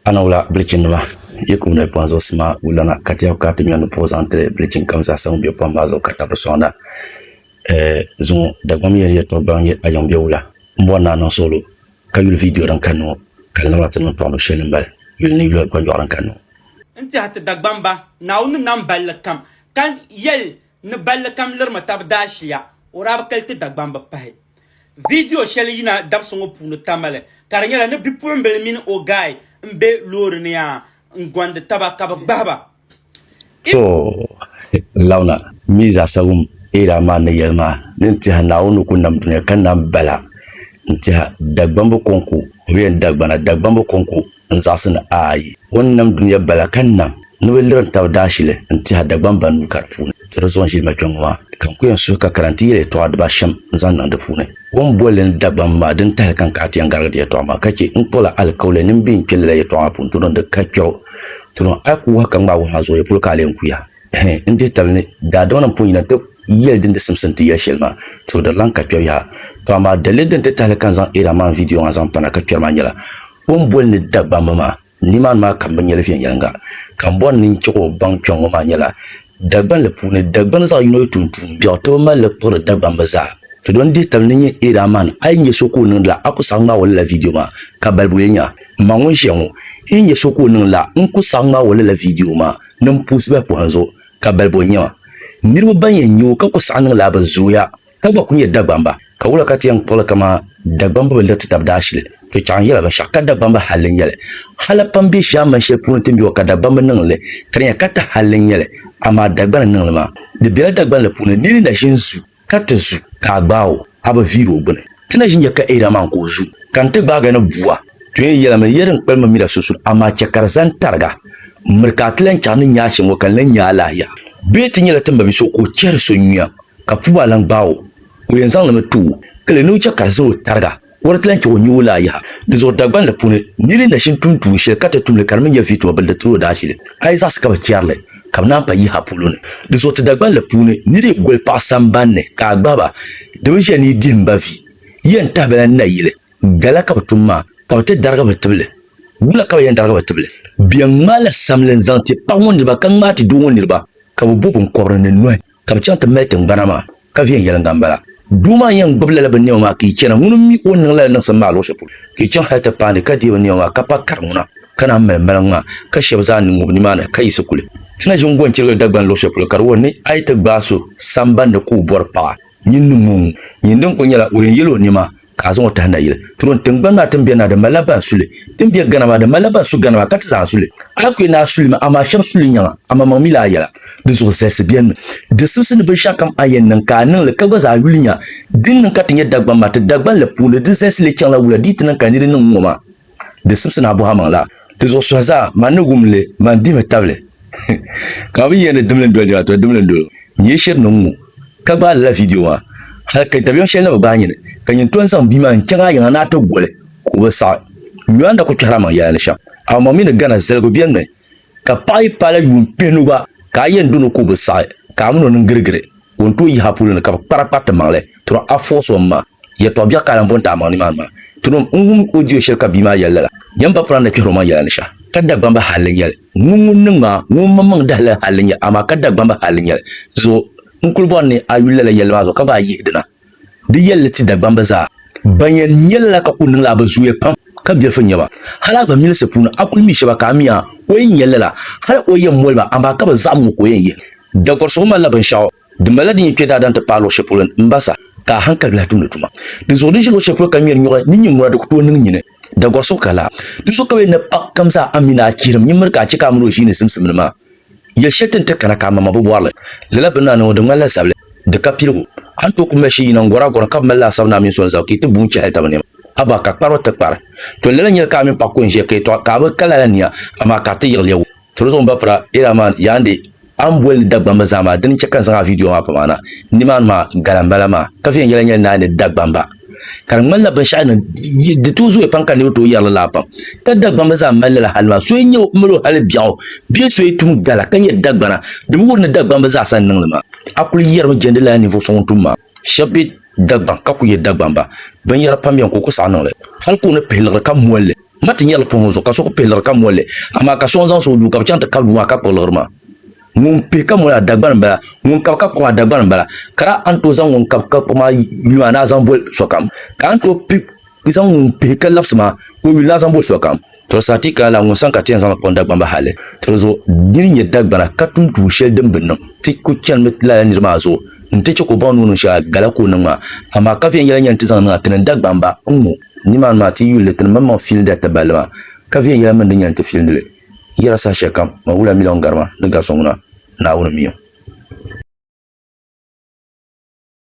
Ana wula bilichinnima, yi kub noli pɔhim zuɣusi maa wulana, ka tɛhigu kana ti nyɔ ni puɣi zaŋ tiri bilichin kam zaa sa ŋun be pɔhim maa zuɣu ka tabiri sɔŋda. Ɛɛh, zuŋɔ Dagbamba yɛli yɛtɔɣ gbaŋ n-nyɛ a yiŋ be wula? M bɔri ni a niŋ suɣulo ka yuli viidiyo din kanni ŋɔ, ka di naba ti niŋ tɔɣinib shɛli ni mali yuli ni yuli kpanjɔɣu din kanni ŋɔ. N tɛhi ti Dagbamba, Naawuni ni nam balli kam, ka yɛli ni balli kam lirimi tab daashia, o daa bi kali ti Dagbamba pahi. Viidiyo shɛli yina dabisi ŋɔ puuni tamali ka di nyɛla ni bipuɣimbila mini o gaai m-be loori ni yaa n-gɔndi taba ka bɛ gbahi ba. To launa mi zaasa wum Eera maa ni yɛli maa ni n-tiɛha Naawuni ni ku nam dunia ka nam bala n-tiɛha Dagbamba kɔŋko, o bi yɛn Dagbana, Dagbamba kɔŋko. n zaɣisi ni ayi. O ni nam dunia bala ka nam ni bɛ lirim tab daashili n-tih a Dagbaŋ ba nuu ka di puuni ti di zuɣu n-ʒili ma kpiɔŋ maa, ka n ku yɛn suhi ka kana nti yɛli yɛtɔɣa diba ashɛm n-zaŋ niŋ di puuni. O ni boli li ni Dagbaŋ maa dini tahili ka n kahi ti yɛn garigi di yɛtɔɣa maa ka chɛ n kpuɣi la alikauli ni m bi yɛn kpe lala yɛtɔɣa maa puuni turom di ka kpɛbu. Turom a ku wahi ka ŋmaai wahi maa zooya polo ka a lee n-kuya. Hɛn n dihi tabili ni daadama nim pun yina nti yɛli din di simsi nti yɛli shɛli maa, tuhi di lan ka kpɛbu yaha. To amaa daliri din ti tahili ka n zaŋ Iran man vidiyo ŋɔ zaŋ pana ka kpɛri maa nyɛla, O ni boli ni Dagbamba maa, nimaani maa kam bi nyɛli viɛnyɛliŋga, ka m bɔri ni n chɛg o baŋ kpiɔŋ ŋɔ maa nyɛla, Dagbani li puuni, Dagbani zaɣ yino yi tum tuun biɛɣu ti bi mali li kpuɣiri Dagbamba zaa. Ti do n-dihi tabili ni n-nyɛ Eera man, a yi nya so ka o niŋdi la, a ku saɣi ŋmaag o lala viidiyo maa, ka balibu yi nya, m ma ŋun ʒiya ŋɔ, n yi nya so ka o niŋdi la, n ku saɣi ŋmaag o lala viidiyo maa ni m puhisi bahi pɔhim zuɣu, ka balibu n-nyɛ ma. Niriba ban yɛn nya o ka ku saɣi niŋ la bi zooya. Ka gba ku nyɛ Dagbamba, ka wula ka ti yɛn kpuɣili kaman Dagbamba bi liɣiti tab daashili? To chaŋ n yɛli a binshɛɣu ka Dagbamba halli n-nyɛ li. Hal a pam be shee a mani shɛli puuni ti mi o ka Dagbamba niŋ li, ka di nyɛla ka ti halli n-nyɛ li, amaa Dagbani n-niŋ li maa. Di bela Dagbani la puuni, nir na ʒi n-zu, ka ti zu, ka a gbaag o, a bi viiri o gbini. Ti na ʒi n-nya ka Eira maa n-ka o zu, ka n ti gbaag a ni bua. To yɛn yɛl a mi ni, Yɛl din kpalim mi mira sunsuuni, amaa chɛ ka di zani tariga. Miri ka a ti lan chaɣ ni nya a shɛm ŋɔ, ka n lan nya a alahiya. Bee ti nyɛla ti mabia so ka o chɛri so yuya? Ka puu maa lan gbaag o, o yɛn zaŋlimi ti o kali ni o chɛ ka di zali o tariga, ka o di ti lan chɛ o nyu o laa yaha. Dinzuɣu Dagbani puuni nir yi nachin tum tuun shɛli ka ti tum li ka di mi nyɛ viituma bili di tiri o daashili. Aizak ka bɛ chɛri li, ka bɛ naan pa yaha polo ni. Dinzuɣu ti Dagbani puuni nir yi goli paɣ samban ni ka a gbahi ba, di bi ʒiɛ ni yi dihi m ba vi. Yi yɛn tahi ba la n na yili, Gala ka bɛ tum maa, ka bɛ ti darigi bɛ tibili. Wula ka bɛ yɛn darigi bɛ tibili? Bɛ yɛn ŋmaala samli n-zaŋ ti paɣ ŋɔ niriba ka ŋmaai ti doo ŋɔ niriba, ka bɛ bo biŋkɔbiri ni nɔhi. Ka bɛ chaŋ ti mali tiŋgbana maa, ka viɛnyɛliŋga m-bala. Doo maa yɛn gbibi lala binnɛma maa ka yi chana, ŋuni mi o ni niŋ lala niŋsim maa luɣishɛli polo, ka yi chaŋ hal ti paai ni ka deei binnɛma maa, ka pa kari ŋuna, ka naan mali maliŋ maa, ka shɛba zaa ni ŋub nimaani, ka yiɣisi kuli ti na ʒin gɔnchirigili Dagbani luɣishɛli polo, ka di wuhi ni a yi ti gbaai so sambandi ka o bɔri paɣa, nyin niŋ o ŋun, nyin din kuli nyɛla o yɛn yɛla o nɛma ka a zaŋ o tahi nayili tiri o ni tiŋgbani maa tiŋbiɛ naa din malila ban suli, tiŋbiɛ gana maa din malila ban su gana maa, ka ti zaa suli. Ayɔkɔyɛ naa suli mi, amaa shɛba suli nyaŋa, amaŋmaŋ mi la a yɛla. Di zuɣu zalisi bɛnimi, di sibisi ni binshɛɣukam a yɛn niŋ ka a niŋ li, ka gba zaa yuli nya. Din niŋ ka ti nyɛ Dagbaŋ maa, ti Dagbaŋ li puuni di zalisi lee chaŋla wula di yi ti niŋ ka niri niŋ n-ŋɔ maa. Di sibisi ni a bɔhi a maŋ la. Di zuɣu suhi zaa man ni wum li, man dihimi tabili. Ka a bi yɛn ni dimli n-doli niriba, to dimli n-doli o. N yi shiri ni n ŋu, ka gbaai lala viidiyo maa, hal ka dabiɛm shɛli na bi gbaai nyini, ka nyin tɔn zaŋ bia maa n-chaŋ a yiŋa ni a ti goli ka o bi saɣi. Nyɔanda ku kpɛhir a maŋ yɛla ni shɛm, amaa maŋ mi ni gana zaligu biɛlimi. Ka paɣ yi paala yuun kpihinu gba, ka a yɛn dɔn o ka o bi saɣi, ka a min o niŋ girigiri, ka o ni tooi yihi a puli ni ka bɛ kpari a kpari ti maŋli, tɔra a fɔɣis o m-ma. Yɛtɔɣ biɛɣu ka a lan bɔn ti a maŋ nimaani maa. Tinim n wum o diyo shɛli ka bia maa yɛli lala. Yɛm ba pɔra ni kpihir omaŋ yɛla ni shɛh, ka Dagbamba hal n-nyɛ li. Ŋun ŋun niŋ ma ŋɔ omaŋ maŋ dahili hal n-nyɛ, amaa ka Dagbamba hal n-nyɛ li. Zuɣu, n kul bɔri ni a yuli lala yɛlli maa zuɣu ka gba a yihi dina. Di yɛlli ti Dagbamba zaa ban yɛn nya lala ka kuli niŋla a bi zooya pam ka bilifu nya ba. Hal a gba milisi puuni a kuli mi shɛba ka a mi a o yɛn nya lala hal o yɛn moli ba amaa ka bi zaɣim ŋɔ ka o yɛn yihi. Dagɔrisigu malila binshɛɣu din malila din yi kpe daadam ti paai luɣ shɛli polo m-ba sa ka a hankali bi lahi tumdi tuma. Dinzuɣu di ʒi luɣ shɛli polo ka ŋmɛri nyɔɣu ni nyin ŋuna di ku tooi niŋ nyini. Da gɔr so ka la du so ka bɛ ni paɣ kam zaa a mi ni a chihirim nyin miri ka a chɛ ka a miri o ʒiini simsimdi maa. Yɛl shɛli ti ni ti kana ka a mama bi bɔri li. Lala bini ni a niŋ o di ŋmanila zabili, di ka piligu. A ni tooi kuli mali shee yina n-gɔr a gɔra ka bi mali laasabu ni a mini so n-zali ka yi ti buŋ chɛ hal taba nɛma. Abaa ka kpari o ti kpari. Tɔ lala nyɛla ka a mini paɣ ku n-ʒiya ka yɛtɔɣa ka a bi ka lala nia, amaa ka a ti yiɣiliya wum. Tolo zuɣu n ba pira era man yaandi a ni boli ni Dagbamba zaa maa dini n chɛ ka n zaŋ a viidiyo maa pa maa na nimaani maa gala n bala maa ka viɛnyɛla nyɛli ni a ni Dagbamba ka di ŋmanila binshɛɣu ni di tooi zooya pam ka niriba tooi yɛri li laa pam ka Dagbamba zaa mali lala hali maa so yi nyɛ o mali o hali biɛɣu bee so yi tum gala ka nyɛ Dagbana di bi wuhi ni Dagbamba zaasa n niŋ li maa a kuli yɛrimi jɛndi lala ninvuɣu so ŋun tum maa Shɛba be Dagbaŋ ka kuli nyɛ Dagbamba. Binyɛra pam beni ka o kuli saɣi niŋli. Hali ka o ni pihi liɣiri ka moli li, ma ti nyari li puhi ŋɔ zuɣu ka so kuli pihi liɣiri ka moli li, amaa ka so n-zaŋ soŋ o duu ka bɛ chaŋ ti kari duu maa ka kpuɣi liɣiri maa. Ŋun pihi ka moli maa, Dagbani m-bala, ŋun kabi ka kpuɣi maa, Dagbani m-bala. Ka daa a ni tooi zaŋ ŋun kabi ka kpuɣi maa yuli maa ni a zaŋ boli sokam, ka a ni tooi pihi N zaŋ ŋun pihi ka labisi maa ka o yuli na zaŋ bo sokam. Tɔri sa ti ka la ŋun sani ka ti yɛn zaŋli kpuɣi n Dagbamba hali tiri zuɣu dini n-nyɛ Dagbana ka tum tuun shɛli din bi niŋ ti ku chanimi lala niri maa zuɣu nti chɛ ka o baŋ ni o niŋ shɛli gala ka o niŋ maa amaa ka viɛnyɛla n-yɛn ti zaŋ niŋ a ti niŋ Dagbamba n ŋɔ nimaani maa ti yuli ti ni maŋmaŋ fiilindi a taballi maa ka viɛnyɛla mini din yɛn ti fiilindi li yɛra saha shɛli kam maa wula miliɔn garima ni gari so ŋuna Naawuni mi o.